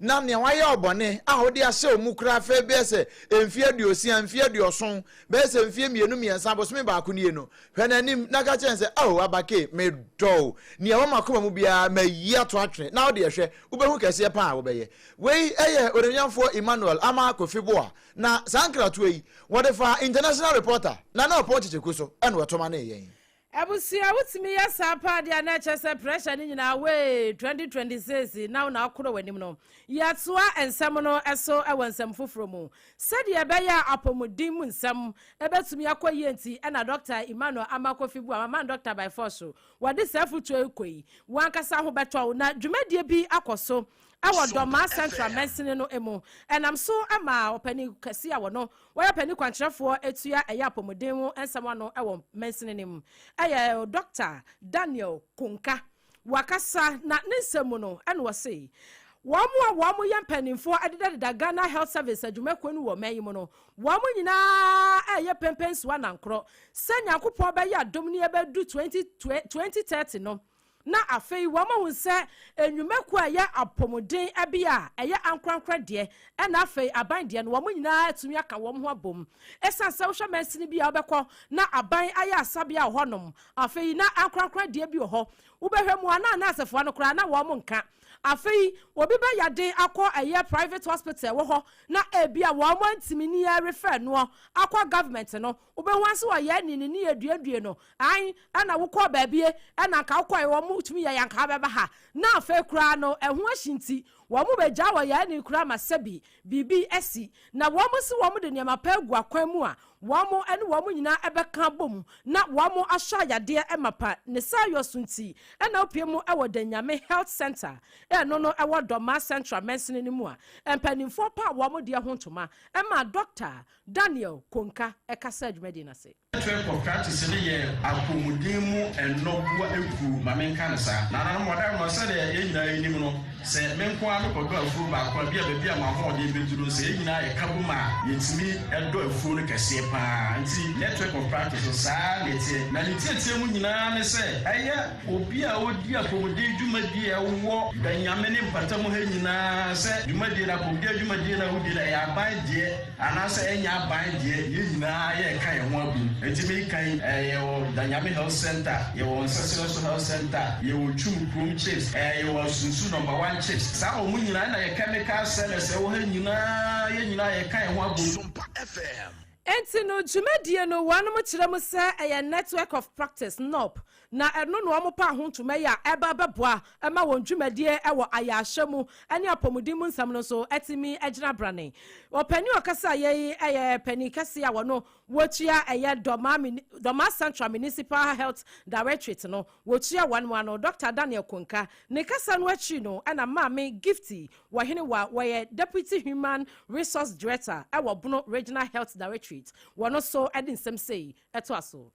na nea wayɛ wo bɔne a wode ahyɛ wo mu koraa afei bɛyɛ sɛ mfeɛ aduosia, mfeɛ aduɔson, bɛyɛ sɛ mfeɛ mmienu mmiɛnsa, bosome baako nie no, hwɛ n'anim na ka kyerɛ no sɛ, Ao Abake, medɔ wo, nea ɛwɔ m'akoma mu biara mayi ato atwene, na wo deɛ hwɛ, wobɛhu kɛseɛ pa ara a wobɛyɛ. Wei yɛ Onuonyamfoɔ Emmanuel Amah Kofi Boah, na saa nkratoɔ yi, wɔde faa International Reporter, na na ɔpɔn kyekyɛku so na wɔtomaneeɛ yɛn. Abusua wotumi yɛ saa paa deɛ a na ɛkyɛ sɛ pressure no nyinaa wee 2026 na wo na akorɔ w'anim no. Yɛtoa nsɛm no so wɔ nsɛm foforɔ mu. Sɛdeɛ ɛbɛyɛ a apɔmuden mu nsɛm bɛtumi akɔ yie nti na Dɔkta Emmanuel Ammah Kofi Buah, Maman Doctor by Force, wɔde saa afotuo yi rekɔ yi. W'ankasa ho bɛtɔ wo na dwumadie bi akɔ so Ɛwɔ Dormaa Central mansini no mu. Ɛnam so ma ɔpanin kɛse a wɔno wɔyɛ ɔpanin kwankyerɛfoɔ tua ɛyɛ apɔmuden ho nsɛm ano wɔ mansini no mu. Ɛyɛ Dɔkta Daniel Konka. Wakasa na ne nsɛm mu no ɛna ɔse wɔn a wɔn yɛ mpaninfoɔ ɛdedadeda Ghana Health Service adwumakuo no wɔ ɔman yi mu no wɔn nyinaa ɛɛyɛ pɛmpɛnsoɔ anankorɔ sɛ Nyankopɔn bɛyɛ adom ne yɛbɛdu 2030 no na afei wɔahu sɛ nnwumakuo a ɛyɛ apɔmuden bi a ɛyɛ ankorankorɛ deɛ ɛna afei aban deɛ no wɔn nyinaa atumi aka wɔn ho abom ɛsiane sɛ wohwɛ mansini bi a wobɛkɔ na aban ayɛ asabea wɔ hɔnom afei na ankorankorɛ deɛ bi wɔ hɔ wobɛhwɛ mu a na anaasefoɔ no koraa na wɔn nka afei obi bɛyade akɔ ɛyɛ private hospital wɔ hɔ na ebi a wɔn antumi ni refɛ noɔ akɔ government no Wobɛhu ara sɛ ɔyɛ ne ne ne aduadue no. Ae, ɛna wokɔɔ baabie, ɛna anka wokɔe, wɔn tumi yɛeɛ anka wobɛba ha. Na afei koraa no, ɛho ahye nti, wɔn bɛgyaa wɔ yɛn ani koraa ma sɛbi biribi asi. Na wɔn se wɔn de nneɛma pa agu akwan mu a, wɔn ne wɔn nyinaa ɛbɛka abom na wɔn asɔ ayadeɛ mapa. Ne saa yɔ so nti, ɛna wopue mu wɔ Da Nyame Health Centre a ɛno no ɛwɔ Dɔmaa Central mansini no mu a mpanimfoɔ paa wɔn deɛ ho ntoma maa Dɔkta Daniel Konka kasaa dwumadi no ase. Afei kɔ practice no yɛ apɔmuden mu nnɔboa akuo ma me nka no saa. Nananom madanom sɛdeɛ yɛn nyinaa yɛnim no sɛ me nko ara me kɔ dɔ afuo baako a bia baabi a m'ahoɔden bɛduru no sɛ yɛn nyinaa yɛ ka bom a yɛtumi dɔ afuo no kɛseɛ paa nti network of practice no saa na ɛteɛ na ne tiatia mu nyinaa ne sɛ ɛyɛ Obi a odi apɔmuden dwumadie a ɛwɔ Bɛnyame ne mpatamu ha nyinaa sɛ dwumadie no apɔmuden adwumadie no a wodi no ɛyɛ aban deɛ anaa sɛ ɛnyɛ aban deɛ yɛn nyinaa yɛreka yɛn ho abom nti meka yi ɛɛ yɛwɔ Bɛnyame health centre yɛwɔ Nsɛsɛ nso health centre yɛwɔ Twum kurom chips ɛɛ yɛwɔ Asunsu number one chips saa wɔn nyinaa ɛna yɛ chemical sellers ɛwɔ ha nyinaa yɛn nyinaa yɛka yɛn ho abom. Sompa FM. Enti no dwumadie no wɔnom kyerɛ mu sɛ ɛyɛ Network of Practice, NOP, Na ɛno na wɔpaa ho ntoma yi a ɛba bɛboa ma wɔn dwumadie wɔ ayaahyɛ mu ne apɔmuden mu nsɛm no nso atumi agyina branee. Ɔpanin a ɔkasaeɛ yi yɛ panin kɛseɛ a wɔno wɔtua ɛyɛ Dɔmaa mini Dɔmaa Central Municipal Health Directorate no wɔtua wɔn mo ano Dɔkta Daniel Konka. Ne kasa no akyiri no na Maame Gifty Wɔhenewa wɔyɛ Deputy Human Resource Director wɔ Bono Regional Health Directorate wɔno nso de nsɛm sei toa so.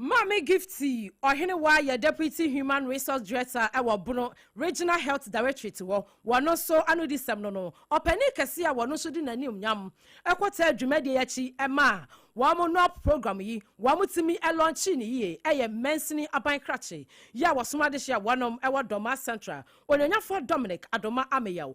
Maame Gifty Ɔhenewaa yɛ Deputy Human Resource Director wɔ Bono Regional Health Directorate hɔ. Wɔ no so anodisɛm no no, ɔpanin kɛse a wɔ no so de n'animuonyam kɔtaa dwumadie yi akyi ma wɔn NOAP program yi, wɔn tumi lɔnkyee no yie, ɛyɛ mansini aban krakye yi a wɔsom adehye a wɔnom wɔ Dormaa Central, Onuonyafɔɔ Dominic Adoma Ameyaw.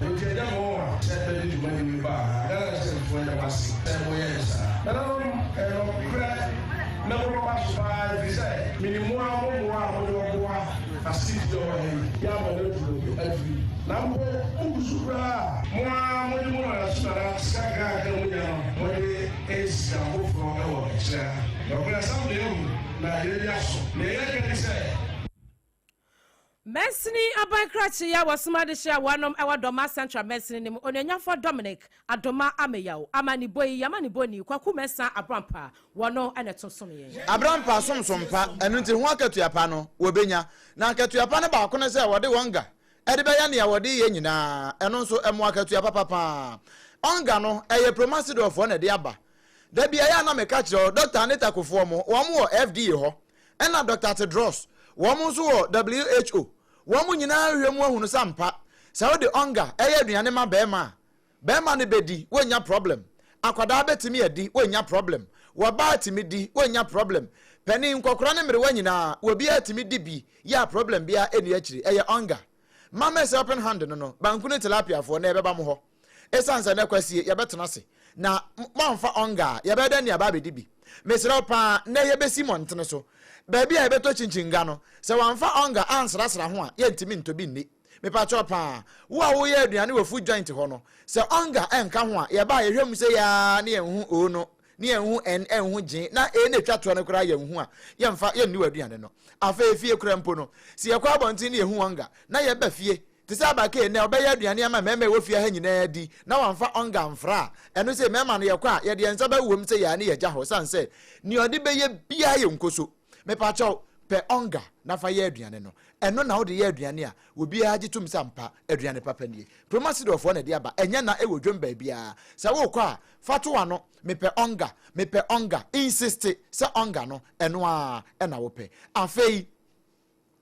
Nka gya mo a sɛ bɛ de dwuma ni me ba anaa Ghana Citizen foɔ yɛ mo ase sɛ mo yɛɛ saa. Nananom ɛyɛ nɔkorɛ na mo bɛ ba so paa ɛfiri sɛ me nim mo ara mo mmoa a mo de bɛ boa Asiti a ɔwɔ ha yi yɛ ama no aduru afiri na mpo mo gu so koraa a mo ara mo de mo nana so nana sika kakra a mo nya no mo de ɛsika foforɔ ɛwɔ akyire ha nɔkorɛ asɛm deɛ ahu na yɛn ani aso deɛ yɛ ka ni sɛ Mansini aban krakye yi a wɔsom ade hyɛ wɔn nom wɔ Dɔma Central mansini no mu, Onuonyamfoɔ Dominic Adoma Ameyaw, Amanibɔ yi, yɛn amanibɔni, Kwaku Mensah Abrampah, wɔno na ɛto som yɛn. Abrampah som som pa, ɛno nti ho akatua pa no, wɔbɛnya. Na akatua pa no baako ne sɛ wɔde wɔn ga de bɛyɛ nea wɔde yɛ nyinaa, ɛno nso ɛmo akatua papa pa ara. Wɔn ga no, ɛyɛ Promasidol foɔ na ɛde aba. Da bi ɛyɛ a na meka kyerɛ wo, Dɔkta Anita Kofoɔ mo, wɔn wɔ FDA hɔ, ɛna Doctor Tedros, wɔn nso wɔ who, wɔn nyinaa hwehwɛ mu ahunu sɛ ampa sɛ wode ɔnga ɛyɛ aduane ma bɛɛma a, bɛɛma no bɛdi, wɔnnya problem, akwadaa bɛtumi adi, wɔnnya problem, wɔbaa tumi di, wɔnnya problem, panin, nkɔkora ne mmerewa nyinaa, wɔbiara tumi di bi yɛ a problem biara ɛnni akyiri, ɛyɛ ɔnga. Mammers Helping Hand no no, banku ne tilapiafoɔ, na ɛbɛba mo hɔ. Esiane sɛ na kwasie, yɛbɛtena ase, na moamfa ɔnga a, yɛbɛyɛ dɛn de aba abɛdi bi? Mesrɛ wo paa, nnɛ yɛbɛsi mmɔntene so, baabi a yɛbɛtɔ kyinkyin nga no. Sɛ wɔamfa ɔnga ansrasra ho a, yɛntumi ntɔ bi nni. Mepakyɛw paa, wo a woyɛ aduane wɔ Food Joint hɔ no, sɛ ɔnga nka ho a, yɛba a yɛhwɛ mu sei ara na yɛnhu oo no, na yɛnhu ɛn ɛnhu gyee, na ee na ɛtwa toɔ no koraa yɛnhu a, yɛmfa, yɛnni w'aduane no. Afei fie koraa mpo no, sɛ yɛkɔ abɔnten na yɛhu ɔnga, na yɛba fie, Te sɛ Abake nnɛ, ɔbɛyɛ aduane ama mmarima a ɛwɔ fie ha nyinaa adi na wamfa ɔnga amfra a, ɛno sei, mmarima no, yɛkɔ a, yɛde yɛn nsa bɛwowam sɛ yɛa ne yɛagya hɔ, ɛsiane sɛ nea ɔde bɛyɛ biara yɛ nkoso. Mepakyɛw, pɛ ɔnga na fa yɛ aduane no. Ɛno na wode yɛ aduane a, obiara gye tom sɛ ampa, aduane papa nie. Proma Sidorfoɔ na ɛde aba, ɛnyɛ na ɛwɔ dwam baabiara. Sɛ worekɔ a, fa to w'ano, Mepɛ ɔnga, mepɛ ɔnga, insiste sɛ ɔnga no, ɛno ara na wopɛ. Afei.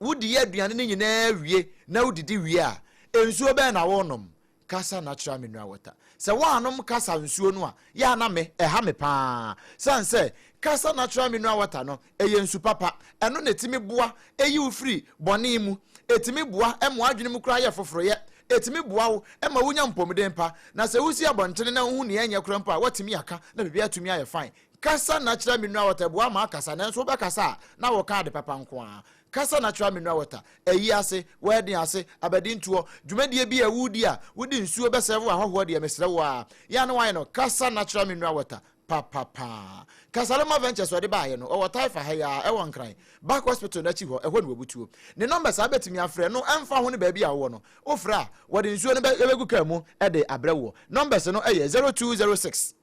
Wodi aduane no nyinaa wie na wudidi wie a, nsuo bɛn na worenom? Kasa natural mineral water. Sɛ woannom Kasa nsuo no a, yɛ a na me, ɛha me pa ara. Sane sɛ, Kasa natural mineral water no, ɛyɛ nsu papa. Ɛno na ɛtumi boa yi wo firi bɔne mu. Ɛtumi boa ma w'adwene mu koraa yɛ foforoyɛ. Ɛtumi boa wo ma wonya mpomuden pa. Na sɛ wosi abɔntene na wohu nea ɛnyɛ koraa mpo a, woatumi aka na biribiara atumi ayɛ fine. Kasa na kyerɛ Mineral Water boa ma akasa, nanso wobɛkasa a na woka ade papa nko ara. Kasa na kyerɛ Mineral Water, Ayi ase, W'adi ase, Abadintoɔ, dwumadie bi a woredi a wode nsuo bɛsɛɛve w'ahɔhoɔ deɛ, mesrɛ wo ara, yɛ a na woayɛ no Kasa na kyerɛ Mineral Water papapa. Kasaloma Ventures wɔde baeɛ no, ɔwɔ Taifa ha yi ara, ɛwɔ Nkran, Back Hospital no akyi hɔ, ɛhɔ na wɔbutuo. Ne nɔmba saa wobɛtumi afrɛ no, ɛmfa ho ne baabi a wowɔ no, wofrɛ a, wɔde nsuo no bɛ, bɛgu kaa mu de abrɛ woɔ. Nɔmbas no yɛ zero two zero six.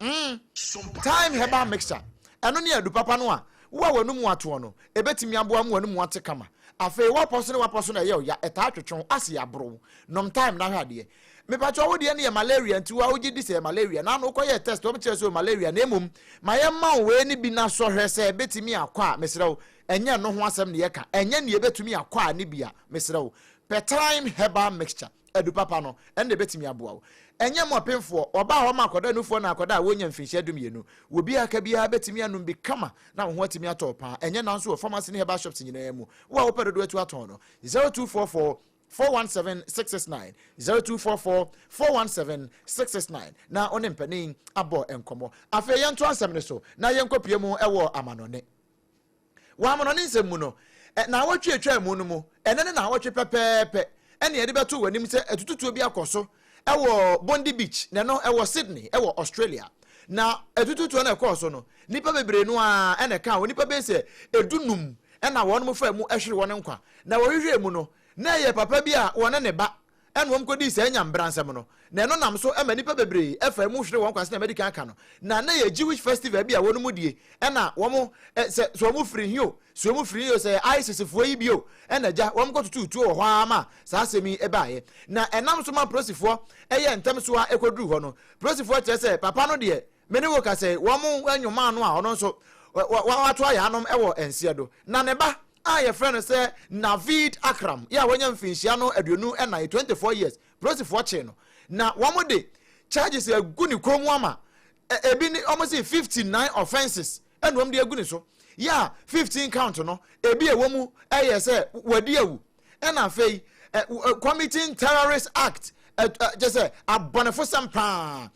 Mm, thyme herbal mixture. Ɛno ne adu papa no a wo a w'anum atoɔ no, ɛbɛtumi aboa ma w'anum ate kama. Afei w'apɔ so ne w'apɔ so na ɛyɛ wo ya, ɛtaa twetwe wo ase yɛ aboro wo. Nom thyme na hwɛ adeɛ. Mepakyɛw wo deɛ no yɛ malaria nti wo a wogye di sɛ ɛyɛ malaria na ano wokɔyɛɛ test wɔn kyerɛ sɛ ɔwɔ malaria na mmom ma yɛmma wo wei no bi na sɔ hwɛ sɛ ɛbɛtumi akɔ a mesrɛ wo ɛnyɛ ɛno ho asɛm na yɛka ɛnyɛ nea ɛbɛtumi akɔ a ne bi a mesrɛ wo pɛ thyme herbal mixture. adu papa no, ɛnde ɛbɛtumi aboa wo. Ɛnyɛ mmɔpenfoɔ, ɔbaa hɔ ma akwadaa nufoɔ na akwadaa a wɔnnya mfirinhyia dumienu. Wɔ bi a aka biara bɛtumi anom bi kama na wo ho atumi atɔ wo paa. Ɛnyɛ nanso wɔ pharmacy ne herbal shops nyinaa mu. Wo a wopɛ dodoɔ atu atɔn no. 0244 417 669, 0244 417 669 na wo ne mpanin abɔ nkɔmmɔ. Afei yɛntoa asɛm no so na yɛnkɔpue mu wɔ amanɔne. Wɔ amanɔnne nsɛm mu no, naawɔtwe a etwaa mu no mu, ɛnnɛ ne naawɔtwe pɛpɛɛpɛ na yɛde bɛto w'anim sɛ atututuo bi akɔ so wɔ Bondi Beach, na ɛno ɛwɔ Sydney wɔ Australia. Na atututuo no a ɛkɔɔ so no, nnipa bebree no ara na ɛkaa ho, nnipa bɛyɛ sɛ dunum na wɔnom faa mu hweree wɔn nkwa. Na wɔhwehwɛɛ mu no, na ɛyɛ papa bi a ɔne ne ba ɛna wɔkodii saa Nya Mbra nsɛm no, na ɛno nam so ma nnipa bebree ɛfa ɛmu hwere wɔn kwa sɛnea madi kan aka no, na na ɛyɛ Jewish festival bi a wɔn mu die, ɛna wɔn ɛ, sɛ, sɛ wɔn firi he o, sɛ wɔn firi he o, sɛ ɛyɛ ISIS foɔ yi bi o, ɛna gya, wɔn kɔtotoo tuo wɔ hɔ ara ma saa asɛm yi baaeɛ. Na ɛnam so ma polosifoɔ ɛyɛɛ ntɛm so ara ɛkɔduruu hɔ no, polosifoɔ kyerɛ sɛ, Papa no deɛ, me ne wo ka sɛ, wɔn nwomaa no a ɔno nso, wa, wa, wato ayaanom wɔ nseɛ do, na ne ba, a yɛfrɛ no sɛ Naveed Akram yɛ a wanya mfinhyia no aduonu ɛnan, twenty four years, polisifoɔ kyee no na wɔde charges agu ne kɔn mu ama ɛ ebi ne wɔn se fifty nine offences ɛna wɔn de agu ne so yɛ a fifteen count no ebi ɛwɔ mu ɛyɛ sɛ wadi awu ɛna afei ɛ committing terrorist act ɛ ɛ kyɛ sɛ abɔnefosɛm paa.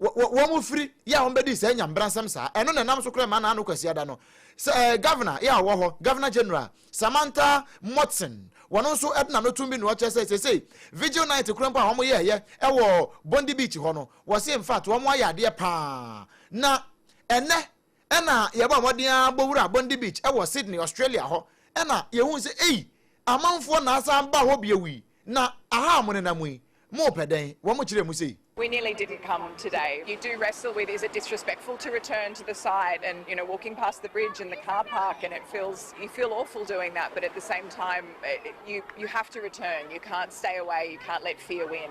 wɔfiri yɛ a wɔbɛdi saa nyambrasɛm saa ɛno na ɛnam so kora ma naano kwasiada no sɛ eh, governor yɛ a ɔwɔ hɔ governor general Samantha Motson wɔno nso ɛde n'ano tom bi na ɔkyerɛ sɛ sesei vigil night kora mpo a wɔn yɛɛyɛ ɛwɔ Bondi Beach hɔ no wɔse in fact wɔn ayɛ adeɛ paa na ɛnɛ Ɛnna yɛbɔɔ mmɔden ara bɔ wuraa Bondi Beach wɔ Sydney, Australia hɔ. Ɛnna yehuu sɛ, ei, amanfoɔ na asan baa hɔ bio yi, na aha a monenam yi, morepɛ dɛn? Wɔn kyerɛɛ mu sei. We nearly didn't come today. You do wrestle with, is it disrespectful to return to the site and, you know, walking past the bridge and the car park and it feels, you feel awful doing that, but at the same time, you, you have to return. You can't stay away. You can't let fear win.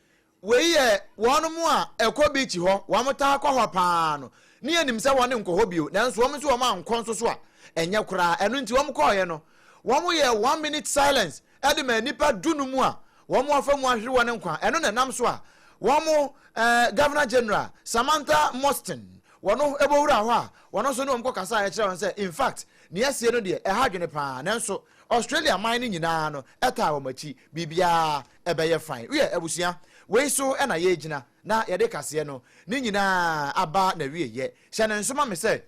Wei yɛ wɔnom a ɛkɔ beach hɔ, wɔn taa kɔ hɔ paa no, ne yɛnim sɛ wɔn nkɔ hɔ bio, nanso wɔn nso wɔn ankɔ nso so a, ɛnyɛ koraa, ɛno nti wɔn kɔɔeɛ no, wɔn yɛɛ one minute silence de maa nnipa du no mu a wɔn afa mu ahwere wɔn nkwa, ɛno na ɛnam so a wɔn eh, Governor General Samantha Mostyn wɔn bɔwuraa hɔ a wɔn nso ne wɔn kɔ kasa a ɛkyerɛ wɔn sɛ in fact nea asie no deɛ ɛha adwene paa, nanso Australia man no nyinaa no ɛtaa wɔn akyi, biribiara ɛbɛyɛ fann. Wiɛ, abusua, wei so na yɛregyina na yɛde kaseɛ no ne nyinaa aba n'awieeɛ. Hyɛ no nso ma me sɛ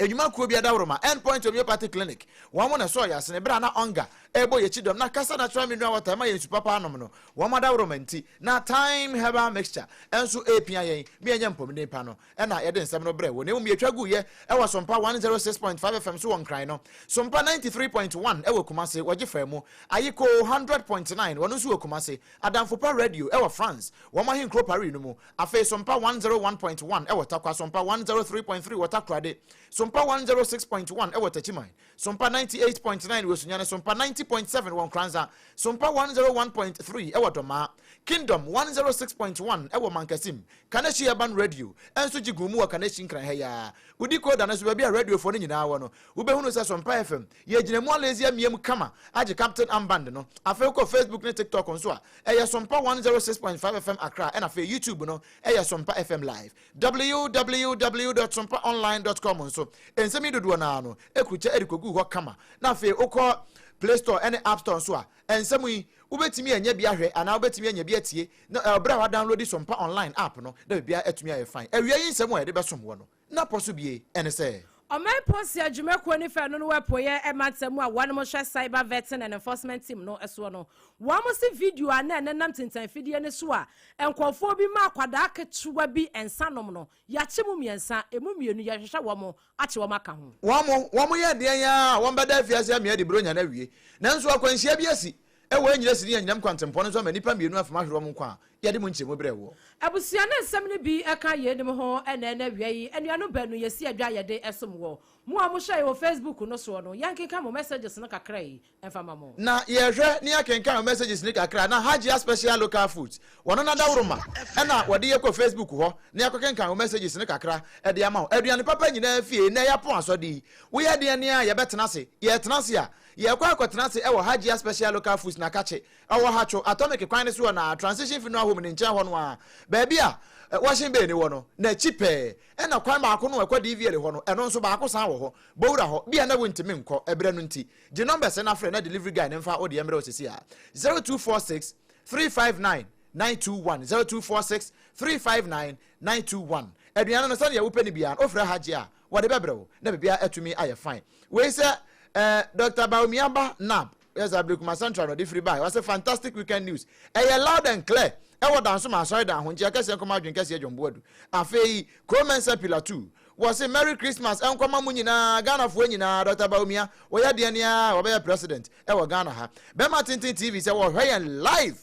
Nnwuma kuo bi adaworoma, End Point Homeopathic Clinic, wɔn na ɛsɔɔ yɛn asene berɛ a na Onga rebɔ yɛn akyi dɔm na Kasa Natural Mineral Water ɛma yɛn nsu papa nom no, wɔn adaworoma nti na Thyme Herbal Mixture nso repia yɛn ma yɛanya mpɔmuden pa no. na yɛde nsɛm no brɛ wo, na mmom yɛtwa guiɛ wɔ Sompa 106.5 FM so wɔ Nkran no, Sompa 93.1 wɔ Kumase, wɔgye faa mu, Ayiko 100.9, wɔno nso wɔ Kumase, Adamfopa Radio wɔ France, wɔn ahenkuro Paris no mu, afei Sompa 101.1 wɔ Tarkwa, Sompa 103.3 wɔ Takorade, Sompa 106.1 wɔ Techiman, Sompa ninety eight point nine wɔ Esunyane, Sompa ninety point seven wɔ Nkoranza, Sompa one hundred oh one point three wɔ Dɔmaa, Kingdom one hundred oh six point one wɔ Mankasim, Kaneshie Urban Radio nso gye guu mu wɔ Kaneshie Nkran ha yi ara. Wodi Koda no nso, baabi a radiofoɔ no nyinaa wɔ no, wobɛhunu sɛ Sompa FM yɛgyina mu alezi amia mu kama agye Captain Armband no. Afei wokɔ Facebook ne TikTok nso a, ɛyɛ Sompa one hundred oh six point five FM Accra ɛna afei YouTube no yɛ Sompa FM Live. www.sompaonline.com nso, nsɛm yi dodoɔ no ara no akurukyɛ de kɔguu hɔ kama, na afei wokɔ Play Store ne App Store nso a, nsɛm yi, wobɛtumi anya bi ahwɛ anaa wobɛtumi anya bi atie, na ɛwɔ berɛ a woadownloadi Sompa Online app no na biribiara atumi ayɛ fine. Awia yi nsɛm a yɛde bɛsom wo no, na pɔ so bie, ɛne sɛ. Ɔman Policɛ adwumakuo no fɛ no no apueɛ mantam mu a wɔn mo hwɛ Cyber Vetting and Enforcement Team no soɔ no, wɔn mo se video a na ɛnenam tintan fidie no so a nkurɔfoɔ bi ma akwadaa ketewa bi nsa nom no, yɛakye mu mmiɛnsa, ɛmu mmienu yɛrehwehwɛ wɔn mo akye wɔn aka ho. Wɔn mo, wɔn mo yɛ deɛn ara a wɔn bɛda afiase amia de Buronya no awie, nanso akwanhyia bi asi, Ɛwɔ yɛ nyina si ne anyinam kwantempɔn no so ama nnipa mmienu afam ahwere wɔn nkwa a, yɛde mu nkyerɛmu brɛ woɔ. Abusua ne nsɛm no bi ka yeinom ho, Ɛnnɛ ɛnnɛ awia yi, anuanom baanu yɛsi adwa yɛde som wɔ. Mo a mo hyɛe wɔ Facebook no soɔ no, yɛnkenkan mo messages no kakra yi mfa ma mo. Na yɛhwɛ ne yɛkenkan wo messages no kakra na Hajia Special Local Foods wɔno na dawuroma ɛna wɔde yɛ kɔ Facebook hɔ na yɛakɔ kenkan wo messages no kakra ɛde ama wo. Aduane papa nyinaa fie, nnɛ yɛapon asɔde yi, woyɛ deɛ ne a yɛbɛtena ase, yɛtena ase a Yɛrekɔ akɔtena ase wɔ Hajia Special Local Foods Nakatche, ɔwɔ Hatcho Atomic kwan no so wɔ na Transition Funeral Home no nkyɛn hɔ no ara, baabi a Washing Bay no wɔ no, n'akyi pɛɛ. Ɛnna kwan baako no a ɛkɔ Divielle hɔ no, ɛno nso baako san wɔ hɔ. Bɔ wura hɔ. Bi a na wuntumi nkɔ, ɛberɛ no nti. Gye numbers na frɛ na delivery guy no mfa wo deɛ mmrɛ wo sɛsi ara, 0246 359 921, 0246 359 921. Aduane no, sɛdeɛ wopɛ no biara no, wofrɛ Hajia a, Wɔde bɛbrɛ wo na biribiara atumi ayɛ fine. Wei sɛ eh, Doctor Bawumia ba Nab. Yes, Ablekuma Central na ɔde firi baeɛ. Ɔse fantastic weekend news. Ɛyɛ loud and clear ɛwɔ Danso ma Asɔredan Ahonkyeɛ kɛseɛ nkɔma adwene kɛseɛ John Boadu. Afei Kro Mensah Pillar Two. Wɔse Merry Christmas nkɔma mo nyinaa, Ghanafoɔ nyinaa. Doctor Bawumia, wɔyɛ deɛn aa wɔbɛyɛ president ɛwɔ Ghana ha. Bɛma Tenten TV sɛ wɔhwɛ yɛn live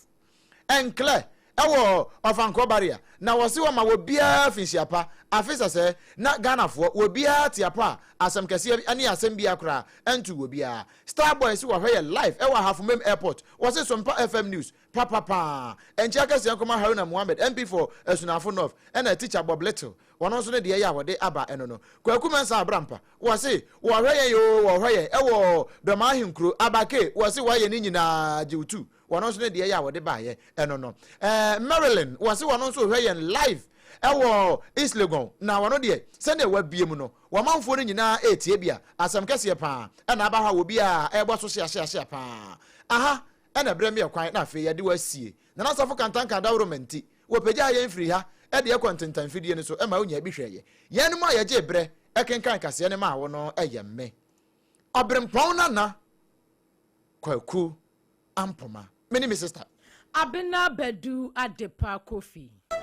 nklɛ wɔ Ɔfankɔ Barrier na wɔse wɔma wɔbiaa finhyia pa. Afe sɛsɛɛ na Ghanafoɔ wɔbiaa te apɔ a asɛm kɛseɛ bi ne asɛm biaa koraa ntuu wɔbiaa. Star Boy se wɔhwɛ yɛ live wɔ Ahafomem Airport. Wɔse Sompa FM News papa paa. Nkyea kɛseɛ nkɔma Haruna Mohammed MP for Asunafo North ɛna Teacher Bob Little wɔno nso ne deɛ yɛ a wɔde aba ɛno no. Kwaku Mensah Abrampa wɔse wɔhwɛ yɛn oo wɔhwɛ yɛn wɔ Dɔmaa Ahenkuro. Abake wɔse wɔyɛ ne nyinaa gye wo tuu. Wɔno nso ne deɛ yɛ a wɔde baeɛ ɛno no. Ɛɛ Marilyn wɔse wɔno nso rehwɛ yɛn live ɛwɔ East Legon na wɔno deɛ sɛdeɛ wabie mu no wɔmanfoɔ no nyinaa retie bia asɛm kɛseɛ paa ɛna aba hɔ a wɔbiaa ɛrebɔ so hyeahyeahyea paa aha ɛna ɛbrɛ me ɛkwan na afei yɛde wo asie Nana Safo Kantanka Dawuroma nti wɔpagyaa yɛn firi ha ɛde ɛkɔ ntentan mfidie no so ɛma wonya bi hwɛeɛ. Yɛn mu a yɛgyee berɛ ɛkenkan kaseɛ no maa wo no ɛyɛ me. Ɔberempɔn Nana Kwaku Ampoma. Mene me sister. Abena Badu Adepa Kofi.